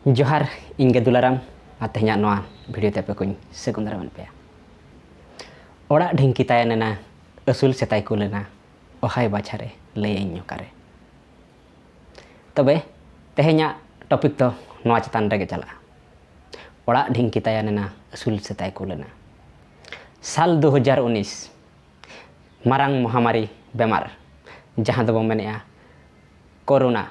ᱡᱚᱦᱟᱨ ᱤᱧ ᱜᱮ ᱫᱩᱞᱟᱨᱟᱢ ᱟᱨ ᱛᱮᱦᱮᱧᱟᱜ ᱱᱚᱣᱟ ᱵᱷᱤᱰᱤᱭᱳ ᱛᱮ ᱟᱯᱮ ᱠᱚᱧ ᱥᱟᱹᱜᱩᱱ ᱫᱟᱨᱟᱢᱮᱫ ᱯᱮᱭᱟ ᱚᱲᱟᱜ ᱰᱷᱤᱝᱠᱤ ᱛᱟᱭᱮᱱ ᱮᱱᱟ ᱟᱹᱥᱩᱞ ᱥᱮᱛᱟᱭ ᱠᱩᱞ ᱮᱱᱟ ᱚᱦᱟᱭ ᱵᱟᱪᱷᱟᱨᱮ ᱞᱟᱹᱭᱟᱹᱧ ᱚᱠᱟᱨᱮ ᱛᱚᱵᱮ ᱛᱮᱦᱮᱧᱟᱜ ᱴᱚᱯᱤᱠ ᱫᱚ ᱱᱚᱣᱟ ᱪᱮᱛᱟᱱ ᱨᱮᱜᱮ ᱪᱟᱞᱟᱜᱼᱟ ᱚᱲᱟᱜ ᱰᱷᱤᱝᱠᱤ ᱛᱟᱭᱮᱱ ᱮᱱᱟ ᱟᱹᱥᱩᱞ ᱥᱮᱛᱟᱭ ᱠᱩᱞ ᱮᱱᱟ ᱥᱟᱞ ᱫᱩ ᱦᱟᱡᱟᱨ ᱩᱱᱤᱥ ᱢᱟᱨᱟᱝ ᱢᱚᱦᱟᱢᱟᱨᱤ ᱵᱮᱢᱟᱨ ᱡᱟᱦᱟᱸ ᱫᱚᱵᱚᱱ ᱢᱮᱱᱮᱜᱼᱟ ᱠᱳᱨᱳᱱᱟ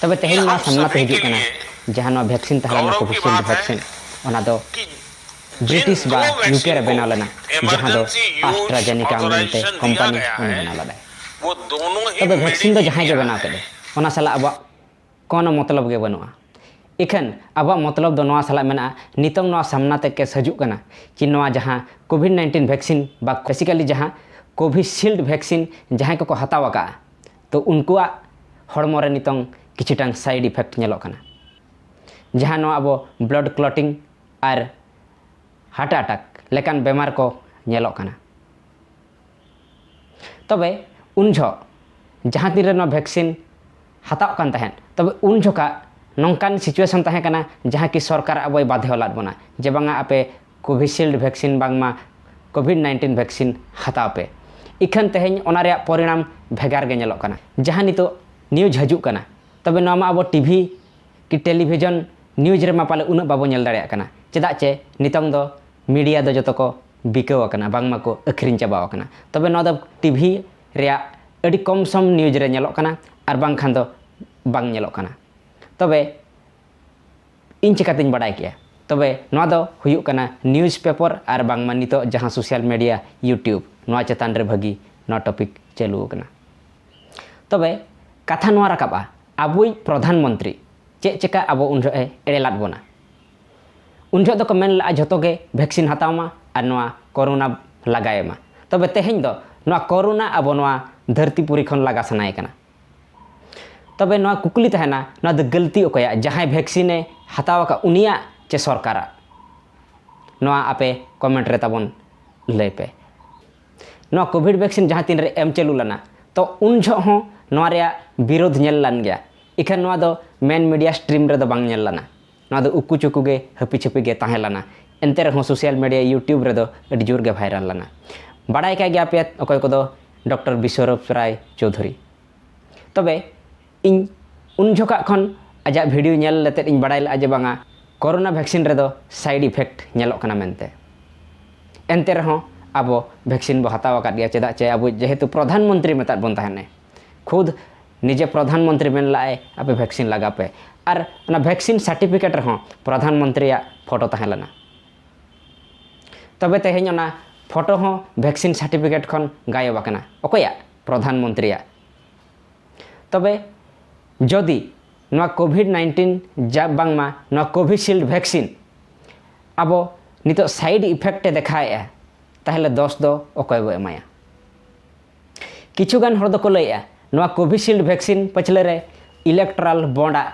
ᱛᱚᱵᱮ ᱛᱮᱦᱮᱧ ᱱᱚᱣᱟ ᱥᱟᱢᱱᱟ ᱛᱮ ᱦᱤᱡᱩᱜ ᱠᱟᱱᱟ ᱡᱟᱦᱟᱸ ᱱᱚᱣᱟ ᱵᱷᱮᱠᱥᱤᱱ ᱛᱟᱦᱮᱸ ᱞᱮᱱᱟ ᱠᱳᱵᱷᱤᱥᱤᱞᱰ ᱵᱷᱮᱠᱥᱤᱱ ᱚᱱᱟ ᱫᱚ ᱵᱨᱤᱴᱤᱥ ᱵᱟ ᱭᱩᱠᱮ ᱨᱮ ᱵᱮᱱᱟᱣ ᱞᱮᱱᱟ ᱡᱟᱦᱟᱸ ᱫᱚ ᱟᱥᱴᱨᱟᱡᱮᱱᱤᱠᱟ ᱢᱮᱱᱛᱮ ᱠᱳᱢᱯᱟᱱᱤ ᱩᱱᱤ ᱵᱮᱱᱟᱣ ᱞᱮᱫᱟᱭ ᱛᱚᱵᱮ ᱵᱷᱮᱠᱥᱤᱱ ᱫᱚ ᱡᱟᱦᱟᱸᱭ ᱜᱮ ᱵᱮᱱᱟᱣ ᱠᱮᱫᱮ ᱚᱱᱟ ᱥᱟᱞᱟᱜ ᱟᱵᱚᱣᱟᱜ ᱠᱳᱱᱳ ᱢᱚᱛᱞᱚᱵ ᱜᱮ ᱵᱟᱹᱱᱩᱜᱼᱟ ᱤᱠᱷᱟᱹᱱ ᱟᱵᱚᱣᱟᱜ ᱢᱚᱛᱞᱚᱵ ᱫᱚ ᱱᱚᱣᱟ ᱥᱟᱞᱟᱜ ᱢᱮᱱᱟᱜᱼᱟ ᱱᱤᱛᱚᱝ ᱱᱚᱣᱟ ᱥᱟᱢᱱᱟ ᱛᱮ ᱠᱮᱥ ᱦᱤᱡᱩᱜ ᱠᱟᱱᱟ ᱠᱤ ᱱᱚᱣᱟ ᱡᱟᱦᱟᱸ ᱠᱳᱵᱷᱤᱰ ᱱᱟᱭᱤᱱᱴᱤᱱ ᱵᱷᱮᱠᱥᱤᱱ ᱵᱟ ᱵᱮᱥᱤᱠᱟᱞᱤ ᱡᱟᱦᱟᱸ ᱠᱳᱵᱷᱤᱥᱤᱞᱰ ᱵᱷᱮᱠᱥᱤᱱ ᱡᱟᱦᱟᱸᱭ ᱠᱚᱠᱚ ᱦᱟᱛᱟᱣ ᱟᱠᱟᱫᱼᱟ ᱛᱚ ᱩᱱᱠᱩᱣᱟᱜ ᱦᱚᱲᱢᱚ ᱨᱮ ᱱᱤᱛᱚᱝ ᱠᱤᱪᱷᱩᱴᱟᱝ ᱥᱟᱭᱤᱰ ᱤᱯᱷᱮᱠᱴ ᱧᱮᱞᱚᱜ ᱠᱟᱱᱟ ᱡᱟᱦᱟᱸ ᱱᱚᱣᱟ ᱟᱵᱚ ᱵᱞᱚᱰ ᱠᱞᱚᱴᱤᱝ ᱟᱨ ᱦᱟᱨᱴ ᱟᱴᱟᱠ ᱞᱮᱠᱟᱱ ᱵᱮᱢᱟᱨ ᱠᱚ ᱧᱮᱞᱚᱜ ᱠᱟᱱᱟ ᱛᱚᱵᱮ ᱩᱱ ᱡᱚᱦᱚᱜ ᱡᱟᱦᱟᱸ ᱛᱤᱱ ᱨᱮ ᱱᱚᱣᱟ ᱵᱷᱮᱠᱥᱤᱱ ᱦᱟᱛᱟᱣ ᱠᱟᱱ ᱛᱟᱦᱮᱸᱫ ᱛᱚᱵᱮ ᱩᱱ ᱡᱚᱠᱷᱟᱜ ᱱᱚᱝᱠᱟᱱ ᱥᱤᱪᱩᱭᱮᱥᱚᱱ ᱛᱟᱦᱮᱸ ᱠᱟᱱᱟ ᱡᱟᱦᱟᱸ ᱠᱤ ᱥᱚᱨᱠᱟᱨ ᱟᱵᱚᱭ ᱵᱟᱫᱷᱮᱣ ᱞᱟᱫ ᱵᱚᱱᱟ ᱡᱮ ᱵᱟᱝᱟ ᱟᱯᱮ ᱠᱳᱵᱷᱤᱥᱤᱞᱰ ᱵᱷᱮᱠᱥᱤᱱ ᱵᱟᱝᱢᱟ ᱠᱳᱵᱷᱤᱰ ᱱᱟᱭᱤᱱᱴᱤᱱ ᱵᱷᱮᱠᱥᱤᱱ ᱦᱟᱛᱟᱣ ᱯᱮ ᱤᱠᱷᱟᱹᱱ ᱛᱮᱦᱮᱧ ᱚᱱᱟ ᱨᱮᱭᱟᱜ ᱯᱚᱨᱤᱱᱟᱢ ᱵᱷᱮᱜᱟᱨ ᱜᱮ ᱧᱮᱞᱚᱜ ᱠᱟᱱᱟ ᱡᱟᱦᱟᱸ ᱱᱤᱛᱚᱜ ᱱᱤᱭᱩᱡᱽ ᱦᱤᱡᱩᱜ ᱠᱟᱱᱟ ᱛᱚᱵᱮ ᱱᱚᱣᱟ ᱢᱟ ᱟᱵᱚ ᱴᱤᱵᱷᱤ ᱠᱤ ᱴᱮᱞᱤᱵᱷᱤᱡᱚᱱ ᱱᱤᱭᱩᱡᱽ ᱨᱮᱢᱟ ᱯᱟᱞᱮ ᱩᱱᱟᱹᱜ ᱵᱟᱵᱚ ᱧᱮᱞ ᱫᱟᱲᱮᱭᱟᱜ ᱠᱟᱱᱟ ᱪᱮᱫᱟᱜ ᱪᱮ ᱱᱤᱛᱚᱝ ᱫᱚ ᱢᱤᱰᱤᱭᱟ ᱫᱚ ᱡᱚᱛᱚ ᱠᱚ ᱵᱤᱠᱟᱹᱣ ᱟᱠᱟᱱᱟ ᱵᱟᱝᱢᱟ ᱠᱚ ᱟᱹᱠᱷᱨᱤᱧ ᱪᱟᱵᱟᱣ ᱟᱠᱟᱱᱟ ᱛᱚᱵᱮ ᱱᱚᱣᱟ ᱫᱚ ᱴᱤᱵᱷᱤ ᱨᱮᱭᱟᱜ ᱟᱹᱰᱤ ᱠᱚᱢ ᱥᱚᱢ ᱱᱤᱭᱩᱡᱽ ᱨᱮ ᱧᱮᱞᱚᱜ ᱠᱟᱱᱟ ᱟᱨ ᱵᱟᱝᱠᱷᱟᱱ ᱫᱚ ᱵᱟᱝ ᱧᱮᱞᱚᱜ ᱠᱟᱱᱟ ᱛᱚᱵᱮ ᱤᱧ ᱪᱤᱠᱟᱹᱛᱤᱧ ᱵᱟᱰᱟᱭ ᱠᱮᱜᱼᱟ ᱛᱚᱵᱮ ᱱᱚᱣᱟ ᱫᱚ ᱦᱩᱭᱩᱜ ᱠᱟᱱᱟ ᱱᱤᱭᱩᱡᱽ ᱯᱮᱯᱟᱨ ᱟᱨ ᱵᱟᱝᱢᱟ ᱱᱤᱛᱚᱜ ᱡᱟᱦᱟᱸ ᱥᱳᱥᱟᱞ ᱢᱤᱰᱤᱭᱟ ᱤᱭᱩᱴᱤᱭᱩᱵᱽ ᱱᱚᱣᱟ ᱪᱮᱛᱟᱱ ᱨᱮ ᱵᱷᱟᱹᱜᱤ ᱱᱚᱣᱟ ᱴᱚᱯᱤᱠ ᱪᱟᱹᱞᱩ ᱟᱠᱟᱱᱟ ᱛᱚᱵᱮ ᱠᱟᱛᱷᱟ ᱱᱚᱣᱟ ᱨᱟᱠᱟᱵᱼᱟ ᱟᱵᱚᱭᱤᱡ ᱯᱨᱚᱫᱷᱟᱱ ᱢᱚᱱᱛᱨᱤ ᱪᱮᱫ ᱪᱮᱠᱟ ᱟᱵᱚ ᱩᱱ ᱡᱚᱦᱚᱜ ᱮ ᱮᱲᱮ ᱞᱟᱫ ᱵᱚᱱᱟ ᱩᱱ ᱡᱚᱦᱚᱜ ᱫᱚᱠᱚ ᱢᱮᱱ ᱞᱟᱜᱼᱟ ᱡᱷᱚᱛᱚ ᱜᱮ ᱵᱷᱮᱠᱥᱤᱱ ᱦᱟᱛᱟᱣ ᱢᱟ ᱟᱨ ᱱᱚᱣᱟ ᱠᱳᱨᱳᱱᱟ ᱞᱟᱜᱟᱭᱮ ᱢᱟ ᱛᱚᱵᱮ ᱛᱮᱦᱮᱧ ᱫᱚ ᱱᱚᱣᱟ ᱠᱳᱨᱳᱱᱟ ᱟᱵᱚ ᱱᱚᱣᱟ ᱫᱷᱟᱹᱨᱛᱤ ᱯᱩᱨᱤ ᱠᱷᱚᱱ ᱞᱟᱜᱟ ᱥᱟᱱᱟᱭᱮ ᱠᱟᱱᱟ ᱛᱚᱵᱮ ᱱᱚᱣᱟ ᱠᱩᱠᱞᱤ ᱛᱟᱦᱮᱱᱟ ᱱᱚᱣᱟ ᱫᱚ ᱜᱟᱹᱞᱛᱤ ᱚᱠᱚᱭᱟᱜ ᱡᱟᱦᱟᱸᱭ ᱵᱷᱮᱠᱥᱤᱱᱮ ᱦᱟᱛᱟᱣ ᱟᱠᱟᱫ ᱩᱱᱤᱭᱟᱜ ᱪᱮ ᱥᱚᱨᱠᱟᱨᱟᱜ ᱱᱚᱣᱟ ᱟᱯᱮ ᱠᱚᱢᱮᱱᱴ ᱨᱮ ᱛᱟᱵᱚᱱ ᱞᱟᱹᱭ ᱯᱮ ᱱᱚᱣᱟ ᱠᱳᱵᱷᱤᱰ ᱵᱷᱮᱠᱥᱤᱱ ᱡᱟᱦᱟᱸ ᱛᱤᱱ ᱨᱮ ᱮᱢ ᱪᱟᱹᱞᱩ ᱞᱮᱱᱟ ᱛᱚ ᱩᱱ ᱡᱷᱚᱜ ᱦᱚᱸ ᱱᱚᱣᱟ ᱨᱮᱭᱟᱜ ᱵᱤᱨᱳᱫᱷ ᱧᱮᱞ ᱞᱮᱱ ᱜᱮᱭᱟ ᱤᱠᱷᱟᱹᱱ ᱱᱚᱣᱟ ᱫᱚ ᱢᱮᱱ ᱢᱤᱰᱤᱭᱟ ᱥᱴᱨᱤᱢ ᱨᱮᱫᱚ ᱵᱟᱝ ᱧᱮᱞ ᱞᱮᱱᱟ ᱱᱚᱣᱟ ᱫᱚ ᱩᱠᱩ ᱪᱩᱠᱩ ᱜᱮ ᱦᱟᱹᱯᱤ ᱪᱷᱟᱹᱯᱤ ᱜᱮ ᱛᱟᱦᱮᱸ ᱞᱮᱱᱟ ᱮᱱᱛᱮ ᱨᱮᱦᱚᱸ ᱥᱳᱥᱟᱞ ᱢᱤᱰᱤᱭᱟ ᱤᱭᱩᱴᱤᱭᱩᱵᱽ ᱨᱮᱫᱚ ᱟᱹᱰᱤ ᱡᱳᱨ ᱜᱮ ᱵᱷᱟᱭᱨᱟᱞ ᱞᱮᱱᱟ ᱵᱟᱲᱟᱭ ᱠᱟᱜ ᱜᱮᱭᱟ ᱯᱮ ᱚᱠᱚᱭ ᱠᱚᱫᱚ ᱰᱚᱠᱴᱚᱨ ᱵᱤᱥᱣᱚᱨᱩᱯ ᱨᱟᱭ ᱪᱳᱣᱫᱷᱩᱨᱤ ᱛᱚᱵᱮ ᱤᱧ ᱩᱱ ᱡᱚᱠᱷᱟᱜ ᱠᱷᱚᱱ ᱟᱡᱟᱜ ᱵᱷᱤᱰᱤᱭᱳ ᱧᱮᱞ ᱞᱮᱛᱮᱫ ᱤᱧ ᱵᱟᱲᱟᱭ ᱞᱮᱫᱼᱟ ᱡᱮ ᱵᱟᱝᱟ ᱠᱳᱨᱳᱱᱟ ᱵᱷᱮᱠᱥᱤᱱ ᱨᱮᱫᱚ ᱥᱟᱭᱤᱰ ᱤᱯᱷᱮᱠᱴ ᱧᱮᱞᱚᱜ ᱠᱟᱱᱟ ᱢᱮᱱᱛᱮ ᱮᱱᱛᱮ ᱨᱮᱦᱚᱸ ᱟᱵᱚ ᱵᱷᱮᱠᱥᱤᱱ ᱵᱚ ᱦᱟᱛᱟᱣ ᱟᱠᱟᱫ ᱜᱮᱭᱟ ᱪᱮᱫᱟᱜ ᱪᱮ ᱟᱵᱚ ᱡᱮᱦᱮᱛᱩ ᱯᱨᱚᱫᱷᱟᱱ ᱢᱚᱱᱛᱨᱤ ᱢᱮᱛᱟᱫ ᱵᱚᱱ ᱛᱟᱦᱮᱱᱮ ᱠᱷᱩᱫᱽ ᱱᱤᱡᱮ ᱯᱨᱚᱫᱷᱟᱱ ᱢᱚᱱᱛᱨᱤ ᱢᱮᱱ ᱞᱟᱜ ᱟᱭ ᱟᱯᱮ ᱵᱷᱮᱠᱥᱤᱱ ᱞᱟᱜᱟ ᱯᱮ ᱟᱨ ᱚᱱᱟ ᱵᱷᱮᱠᱥᱤᱱ ᱥᱟᱨᱴᱤᱯᱷᱤᱠᱮᱴ ᱨᱮᱦᱚᱸ ᱯᱨᱚᱫᱷᱟᱱ ᱢᱚᱱᱛᱨᱤ ᱭᱟᱜ ᱯᱷᱚᱴᱚ ᱛᱟᱦᱮᱸ ᱞᱮᱱᱟ ᱛᱚᱵᱮ ᱛᱮᱦᱮᱧ ᱚᱱᱟ ᱯᱷᱚᱴᱚ ᱦᱚᱸ ᱵᱷᱮᱠᱥᱤᱱ ᱥᱟᱨᱴᱤᱯᱷᱤᱠᱮᱴ ᱠᱷᱚᱱ ᱜᱟᱭᱚᱵ ᱟᱠᱟᱱᱟ ᱚᱠᱚᱭᱟᱜ ᱯᱨᱚᱫᱷᱟᱱ ᱢᱚᱱᱛᱨᱤ ᱭᱟᱜ ᱛᱚᱵᱮ ᱡᱚᱫᱤ ᱱᱚᱣᱟ ᱠᱳᱵᱷᱤᱰ ᱱᱟᱭᱤᱱᱴᱤᱱ ᱡᱟ ᱵᱟᱝᱢᱟ ᱱᱚᱣᱟ ᱠᱳᱵᱷᱤᱥᱤᱞᱰ ᱵᱷᱮᱠᱥᱤᱱ ᱟᱵᱚ ᱱᱤᱛᱚᱜ ᱥᱟᱭᱤᱰ ᱤᱯᱷᱮᱠᱴ ᱮ ᱫᱮᱠᱷᱟᱣᱮᱫᱼᱟ ᱛᱟᱦᱚᱞᱮ ᱫᱚᱥ ᱫᱚ ᱚᱠᱚᱭ ᱵᱚ ᱮᱢᱟᱭᱟ ᱠᱤᱪᱷᱩᱜᱟᱱ ᱦᱚᱲ ᱫᱚᱠᱚ ᱞᱟᱹᱭᱮᱜᱼᱟ ᱱᱚᱣᱟ ᱠᱳᱵᱷᱤᱥᱤᱞᱰ ᱵᱷᱮᱠᱥᱤᱱ ᱯᱟᱹᱪᱷᱞᱟᱹ ᱨᱮ ᱤᱞᱮᱠᱴᱨᱟᱞ ᱵᱚᱱᱰ ᱟᱜ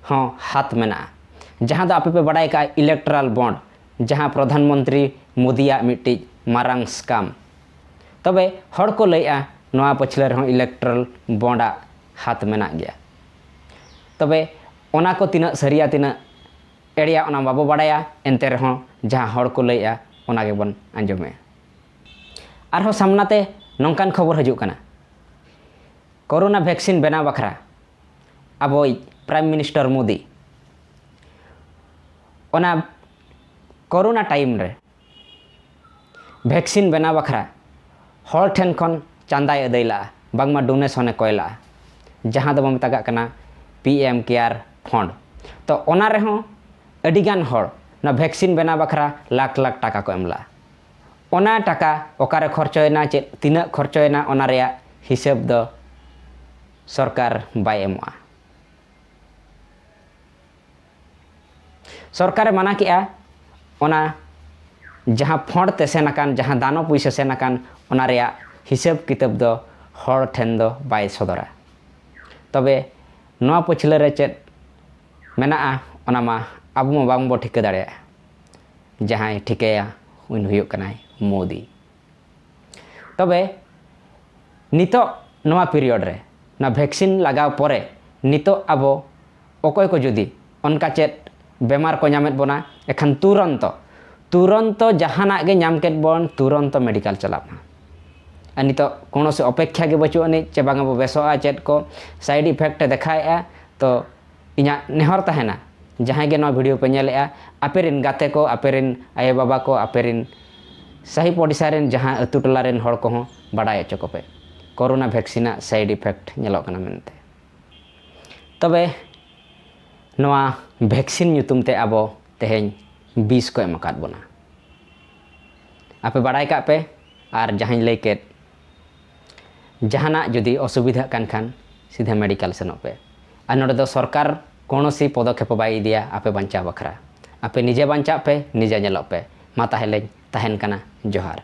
ᱦᱚᱸ ᱦᱟᱛ ᱢᱮᱱᱟᱜᱼᱟ ᱡᱟᱦᱟᱸ ᱫᱚ ᱟᱯᱮ ᱯᱮ ᱵᱟᱰᱟᱭ ᱠᱟᱜᱼᱟ ᱤᱞᱮᱠᱴᱨᱟᱞ ᱵᱚᱱᱰ ᱡᱟᱦᱟᱸ ᱯᱨᱚᱫᱷᱟᱱ ᱢᱚᱱᱛᱨᱤ ᱢᱳᱫᱤᱭᱟᱜ ᱢᱤᱫᱴᱤᱡ ᱢᱟᱨᱟᱝ ᱥᱠᱟᱢ ᱛᱚᱵᱮ ᱦᱚᱲ ᱠᱚ ᱞᱟᱹᱭᱮᱜᱼᱟ ᱱᱚᱣᱟ ᱯᱟᱹᱪᱷᱞᱟᱹ ᱨᱮᱦᱚᱸ ᱤᱞᱮᱠᱴᱨᱟᱞ ᱵᱚᱱᱰ ᱟᱜ ᱦᱟᱛ ᱢᱮᱱᱟᱜ ᱜᱮᱭᱟ ᱛᱚᱵᱮ ᱚᱱᱟ ᱠᱚ ᱛᱤᱱᱟᱹᱜ ᱥᱟᱹᱨᱤᱭᱟ ᱛᱤᱱᱟᱹᱜ ᱮᱲᱮᱭᱟ ᱚᱱᱟ ᱵᱟᱵᱚ ᱵᱟᱰᱟᱭᱟ ᱮᱱᱛᱮ ᱨᱮᱦᱚᱸ ᱡᱟᱦᱟᱸ ᱦᱚᱲ ᱠᱚ ᱞᱟᱹᱭᱮᱜᱼᱟ ᱚᱱᱟ ᱜᱮᱵᱚᱱ ᱟᱸᱡᱚᱢᱮᱜᱼᱟ ᱟᱨᱦᱚᱸ ᱥᱟᱢᱱᱟ ᱛᱮ ᱱᱚᱝᱠᱟᱱ ᱠᱷᱚᱵᱚᱨ ᱦᱤᱡᱩᱜ ᱠᱟᱱᱟ ᱠᱚᱨᱳᱱᱟ ᱵᱷᱮᱠᱥᱤᱱ ᱵᱮᱱᱟᱣ ᱵᱟᱠᱷᱨᱟ ᱟᱵᱚᱭᱤᱡ ᱯᱨᱟᱭᱤᱢ ᱢᱤᱱᱤᱥᱴᱚᱨ ᱢᱳᱫᱤ ᱚᱱᱟ ᱠᱚᱨᱳᱱᱟ ᱴᱟᱭᱤᱢ ᱨᱮ ᱵᱷᱮᱠᱥᱤᱱ ᱵᱮᱱᱟᱣ ᱵᱟᱠᱷᱨᱟ ᱦᱚᱲ ᱴᱷᱮᱱ ᱠᱷᱚᱱ ᱪᱟᱸᱫᱟᱭ ᱟᱹᱫᱟᱹᱭ ᱞᱟᱜᱼᱟ ᱵᱟᱝᱢᱟ ᱰᱳᱱᱮᱥᱚᱱᱮ ᱠᱚᱭ ᱞᱟᱜᱼᱟ ᱡᱟᱦᱟᱸ ᱫᱚᱵᱚᱱ ᱢᱮᱛᱟᱜᱟᱜ ᱠᱟᱱᱟ ᱯᱤ ᱮᱢ ᱠᱮᱭᱟᱨ ᱯᱷᱚᱸᱰ ᱛᱚ ᱚᱱᱟ ᱨᱮᱦᱚᱸ ᱟᱹᱰᱤᱜᱟᱱ ᱦᱚᱲ ᱚᱱᱟ ᱵᱷᱮᱠᱥᱤᱱ ᱵᱮᱱᱟᱣ ᱵᱟᱠᱷᱨᱟ ᱞᱟᱠᱷ ᱞᱟᱠᱷ ᱴᱟᱠᱟ ᱠᱚ ᱮᱢ ᱞᱟᱜᱼᱟ ᱚᱱᱟ ᱴᱟᱠᱟ ᱚᱠᱟᱨᱮ ᱠᱷᱚᱨᱪᱚᱭᱮᱱᱟ ᱪᱮᱫ ᱛᱤᱱᱟᱹᱜ ᱠᱷᱚᱨᱪᱚᱭᱮᱱᱟ ᱚᱱᱟ ᱨᱮᱭᱟᱜ ᱦᱤᱥᱟᱹᱵᱽ ᱫᱚ ᱥᱚᱨᱠᱟᱨ ᱵᱟᱭ ᱮᱢᱚᱜᱼᱟ᱾ ᱥᱚᱨᱠᱟᱨ ᱮ ᱢᱟᱱᱟ ᱠᱮᱫᱼᱟ ᱚᱱᱟ ᱡᱟᱦᱟᱸ ᱯᱷᱚᱸᱰ ᱛᱮ ᱥᱮᱱ ᱟᱠᱟᱱ ᱡᱟᱦᱟᱸ ᱫᱟᱱᱚ ᱯᱩᱭᱥᱟᱹ ᱥᱮᱱ ᱟᱠᱟᱱ ᱚᱱᱟ ᱨᱮᱭᱟᱜ ᱦᱤᱥᱟᱹᱵᱽ ᱠᱤᱛᱟᱹᱵᱽ ᱫᱚ ᱦᱚᱲ ᱴᱷᱮᱱ ᱫᱚ ᱵᱟᱭ ᱥᱚᱫᱚᱨᱟ᱾ ᱛᱚᱵᱮ ᱱᱚᱣᱟ ᱯᱟᱹᱪᱷᱞᱟᱹ ᱨᱮ ᱪᱮᱫ ᱢᱮᱱᱟᱜᱼᱟ ᱚᱱᱟ ᱢᱟ ᱟᱵᱚ ᱢᱟ ᱵᱟᱝ ᱵᱚ ᱴᱷᱤᱠᱟᱹ ᱫᱟᱲᱮᱭᱟᱜᱼᱟ᱾ ᱡᱟᱦᱟᱸᱭ ᱴᱷᱤᱠᱟᱹᱭᱟ ᱩᱱᱤ ᱦᱩᱭᱩᱜ ᱠᱟᱱᱟᱭ ᱢᱳᱫᱤ ᱛᱚᱵᱮ ᱱᱤᱛᱚᱜ ᱱᱚᱣᱟ ᱯᱤᱨᱤᱭᱚᱰ ᱨᱮ ᱱᱚᱣᱟ ᱵᱷᱮᱠᱥᱤᱱ ᱞᱟᱜᱟᱣ ᱯᱚᱨᱮ ᱱᱤᱛᱚᱜ ᱟᱵᱚ ᱚᱠᱚᱭ ᱠᱚ ᱡᱩᱫᱤ ᱚᱱᱠᱟ ᱪᱮᱫ ᱵᱮᱢᱟᱨ ᱠᱚ ᱧᱟᱢᱮᱫ ᱵᱚᱱᱟ ᱮᱠᱷᱟᱱ ᱛᱩᱨᱚᱱᱛᱚ ᱛᱩᱨᱚᱱᱛᱚ ᱡᱟᱦᱟᱱᱟᱜ ᱜᱮ ᱧᱟᱢ ᱠᱮᱫ ᱵᱚᱱ ᱛᱩᱨᱚᱱᱛᱚ ᱢᱮᱰᱤᱠᱟᱞ ᱪᱟᱞᱟᱜ ᱢᱟ ᱟᱨ ᱱᱤᱛᱚᱜ ᱠᱳᱱᱳᱥᱤ ᱚᱯᱮᱠᱷᱟ ᱜᱮ ᱵᱟᱹᱪᱩᱜ ᱟᱹᱱᱤᱡ ᱪᱮ ᱵᱟᱝ ᱟᱵᱚ ᱵᱮᱥᱚᱜᱼᱟ ᱪᱮᱫ ᱠᱚ ᱥᱟᱭᱤᱰ ᱤᱯᱷᱮᱠᱴ ᱮ ᱫᱮᱠᱷᱟᱣᱮᱫᱼᱟ ᱛᱚ ᱤᱧᱟᱜ ᱱᱮᱦᱚᱨ ᱛᱟᱦᱮᱱᱟ ᱡᱟᱦᱟᱸᱭ ᱜᱮ ᱱᱚᱣᱟ ᱵᱷᱤᱰᱤᱭᱳ ᱯᱮ ᱧᱮᱞᱮᱜᱼᱟ ᱟᱯᱮ ᱨᱮᱱ ᱜᱟᱛᱮ ᱠᱚ ᱟᱯᱮ ᱨᱮᱱ ᱟᱭᱳ ᱵᱟᱵᱟ ᱠᱚ ᱟᱯᱮ ᱨᱮᱱ ᱥᱟᱹᱦᱤ ᱯᱚᱰᱤᱥᱟ ᱨᱮᱱ ᱡᱟᱦᱟᱸ ᱟᱹᱛᱩ ᱴᱚᱞᱟ ᱨᱮᱱ ᱦᱚᱲ ᱠᱚᱦᱚᱸ ᱵᱟᱰᱟᱭ ᱦᱚᱪᱚ ᱠᱚᱯᱮ ᱠᱳᱨᱳᱱᱟ ᱵᱷᱮᱠᱥᱤᱱ ᱟᱜ ᱥᱟᱭᱤᱰ ᱤᱯᱷᱮᱠᱴ ᱧᱮᱞᱚᱜ ᱠᱟᱱᱟ ᱢᱮᱱᱛᱮ ᱛᱚᱵᱮ ᱱᱚᱣᱟ ᱵᱷᱮᱠᱥᱤᱱ ᱧᱩᱛᱩᱢ ᱛᱮ ᱟᱵᱚ ᱛᱮᱦᱮᱧ ᱵᱤᱥ ᱠᱚ ᱮᱢ ᱟᱠᱟᱫ ᱵᱚᱱᱟ ᱟᱯᱮ ᱵᱟᱰᱟᱭ ᱠᱟᱜ ᱯᱮ ᱟᱨ ᱡᱟᱦᱟᱸᱧ ᱞᱟᱹᱭ ᱠᱮᱫ ᱡᱟᱦᱟᱱᱟᱜ ᱡᱩᱫᱤ ᱚᱥᱩᱵᱤᱫᱷᱟᱜ ᱠᱟᱱ ᱠᱷᱟᱱ ᱥᱤᱫᱷᱟᱹ ᱢᱮᱰᱤᱠᱟᱞ ᱥᱮᱱᱚᱜ ᱯᱮ ᱟᱨ ᱱᱚᱰᱮ ᱫᱚ ᱥᱚᱨᱠᱟᱨ ᱠᱚᱱᱚᱥᱤ ᱯᱚᱫᱚᱠᱷᱮᱯ ᱵᱟᱭ ᱤᱫᱤᱭᱟ ᱟᱯᱮ ᱵᱟᱧᱪᱟᱣ ᱵᱟᱠᱷᱨᱟ ᱟᱯᱮ ᱱᱤᱡᱮ ᱵᱟᱧᱪᱟᱜ ᱯᱮ ᱱᱤᱡᱮ ᱧᱮᱞᱚᱜ ᱯᱮ ᱢᱟ ᱛᱟᱦᱮᱞᱮᱧ ᱛᱟᱦᱮᱱ ᱠᱟᱱᱟ ᱡᱚᱦᱟᱨ